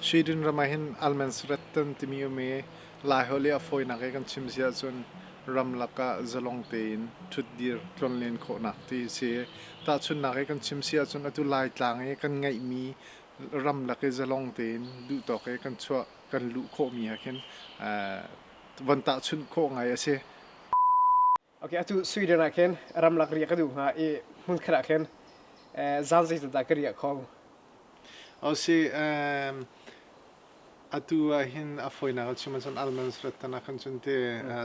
Sweden ram ahhin Allmänrätten timi um i Laiholh i a fawinak i kan chim si ahcun ramlak ah zalong tein ṭhutdir tlonlen khawhnak ti a si. Tahchunhnak i kan chim si ahcun atu Laitlang i kan ngeihmi ramlak i zalong tein duhtawk i kan chuah kan luh khawhmi ah khin von tahchunh khawh ngai a si. Ok, atu Sweden ah khin ramlak riak ka duh hnga i hmun khat ah khin zan zeitin dah ka riak khong. O si, atu ah hin a foinak cun man cun almonds rat tan khan cun te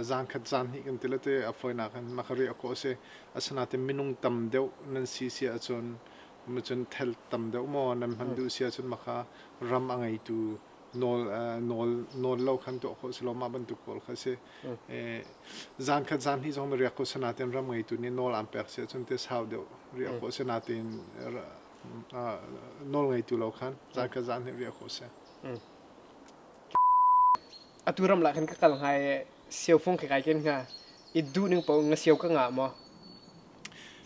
zan khat zan hi kan ti le te a foinak khan ma ka riak ko si asanatin minung tam deuh nan si si ah cun ma cun thel tam deuh mo nan man duh si ah cun ma ka ram a ngeitu nawl lo khan tuah khawh si lo mah bantuk kawl kha si zan khat zan hnih zong na riak ko sinatin ram ngeitu nih nawl aan pek si ahcun te sau deuh riak ko sinatin nawl ngeitu lo khan zan khat zan hnih riak ko si atu ram lah kan ka kal hnga i siau fung khekai ken hnga i duh ning po nga siau ka nga maw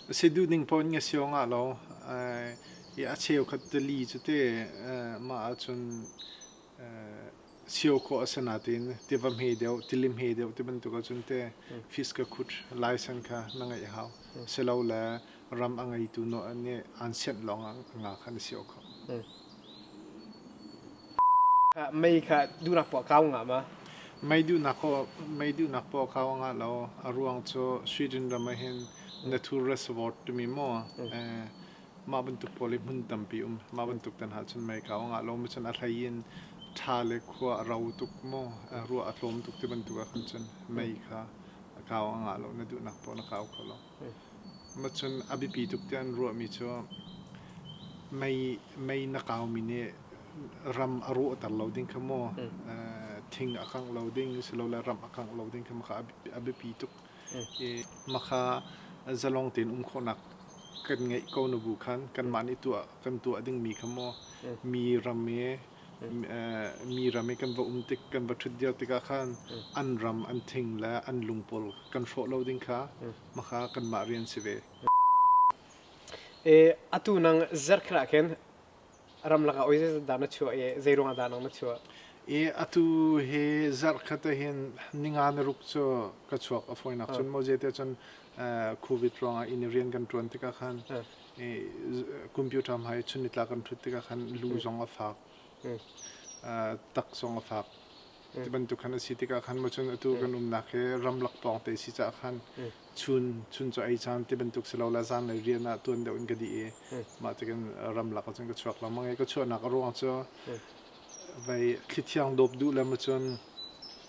A si duh ning poh in ka sio ngah lo. Hi a cheukhat tili cu te mah ahcun sio khawh a si nain tiva hme deuh, tili hme deuh ti bantuk ahcun te fish ka khut license kha na ngeih a hau. Silo le ram a ngeitu nih an sianh lawng ah a ngah kha na sio kho. Mei kha duhnak poah kau ngam ah? Mei duhnak poah kau ngah lo. A ruang cu Sweden ram ah hin natur reservoir timi maw? Mah bantuk pawl hi hmun tampi um. Mah bantuk tan ahcun mei kau ngah lo. Macun a hlei in tha le khua a rau tuk maw? Ruah a tlawm tuk ti bantuk ahkhan cun mei kha a kau ngah lo. Na duhnak poah na kau kho lo. Macun a biapi tuk tiah an ruahmi cu mei mei na kaumi nih ram a rawhter lo ding kha maw thing a kangh lo ding silole ram a kangh lo ding kha makha a biapi tuk i makha zalong tein um khawhnak kan ngeih ko na bu khan kanmah nih tuah kan tuah dingmi kha maw mi ram i mi ram i kan va um tik kan va ṭhut diau tikah khan an ram an thing le an lung pawl kan hrawh lo ding kha hmaka kanmah rian si ve. E atu nang zerkhel ah khin ramlak ah oi dah na chuah i zei ruang dah nang na chuah? I atu hi zarh khat hin ninga na ruk cu ka chuak a fawinak cun mo jete cun covid ruangah in i rian kan ṭuan tikah khan computer hmai chunitla kan thut tikah khan lu zong a fak tak zong a fak ti bantuk khan a si tikah khan mo cun atu kan umnak hi ramlak pawng te si cah khan chun chun cu ei caan ti bantuk si lo la zan le rian ah tuan deuh in ka di i mah tikin ramlak cun ka chuak lo mange ka chuahnak a ruang cu vai thli thiang dawp duh le mo cun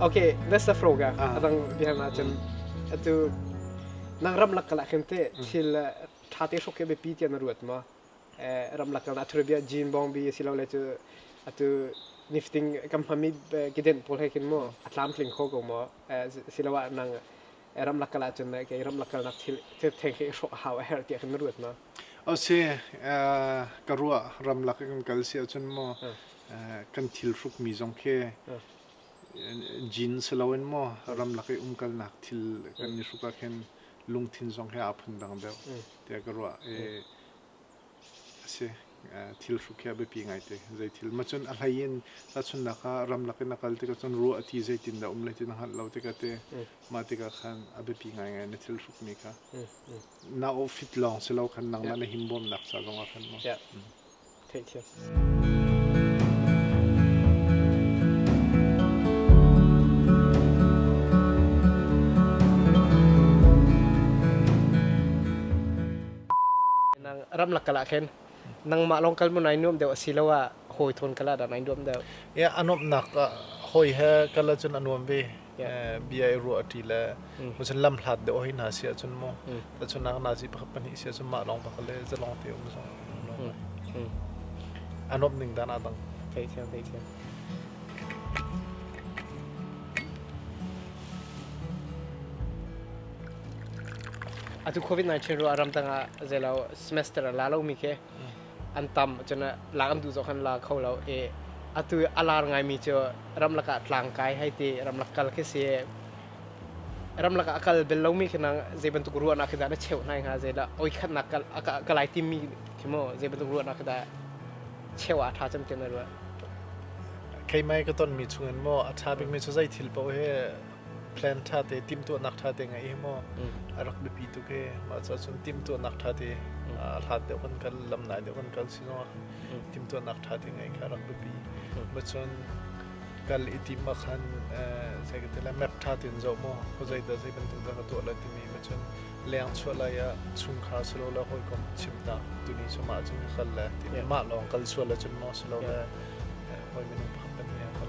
Okay, that's the program. Ah. Adang bihan ahcun atu nang ramlak kala khin te thil tha te hrok ke be pi tian ruat ma ramlak kala athur bia jean bong bi silo le chu atu nifting kam hami kiden pol he kin mo atlam tling kho ko mo silawa nang ramlak kal ahcun kei ramlak kalnak thil theng hi hrawh a hau a herh tiah khin na ruat ma? O se ka ruah ramlak kan kal si ahcun maw kan thil hrukmi zong khi jean si loin maw ramlak i umkalnak thil kan i hruk ah khin lungthin zong hi aa phun dang deuh tiah ka ruah. a si. Thil hrukhiah a biapi ngai te. Zei thil ma cun a hlei in tahchunhnak ah ramlak in a kal tikah cun ruah a ti zeitin dah um lai ti na hngalh lo tikah te mah tikah khan a biapi ngaingai na thil hrukmi kha. Na outfit lawng si lo khan nangmah na himbawmnak ca zongah khan maw. Theih thiam. ramlak kala khen nangmah long kal mun ai nuam deuh asilo ah hawi thon kala dan ai nuam deuh ya anom nak hawi he kala chun anuam ve bia i ruah ṭi le cun lam hlat deuh hoi hna si ahcun maw cun nak nazi pakhat pahnih si ahcun mah lawng pakhat le zalong te um zong an awp ning dan aa dang theithiam theithiam atu covid 19 ru aram tangah zelo semester la lo mi ke an tam cun lak an duh zong khan la kho lo i atu a lar ngaimi cu ramlak ah tlangkai hei ti ramlak kal khi si ramlak ah a kal bel lomi khi nang zei bantuk ruahnak khi dah na cheuh hnai hnga zeilah oi khatnak ka lai timmi khi maw zei bantuk ruahnak khi dah cheu ah tha cem tiah na ruah keimai ka tonmi chungin maw a tha bikmi cu zei thil poh hi plan ṭhate timhtuahnak ṭhate ngei hi maw a rak biapi tuk hi mah cu cun timhtuahnak ṭhate a hlan deuh kan kal lam nai deuh kan kal si zongah timhtuahnak ṭhate ngei kha a rak biapi ma cun kal i tim ah khan sai ka tila map ṭhate in zoh maw ko zeidah zei bantuk dah ka tuah lai timi ma cun leng chuah lai ah chungkhar silo le hawikom chim ta tuni cu mah cun ka kal le ti mah lawng kal chuah le cun maw silo le hawi minung phak kan hi a kal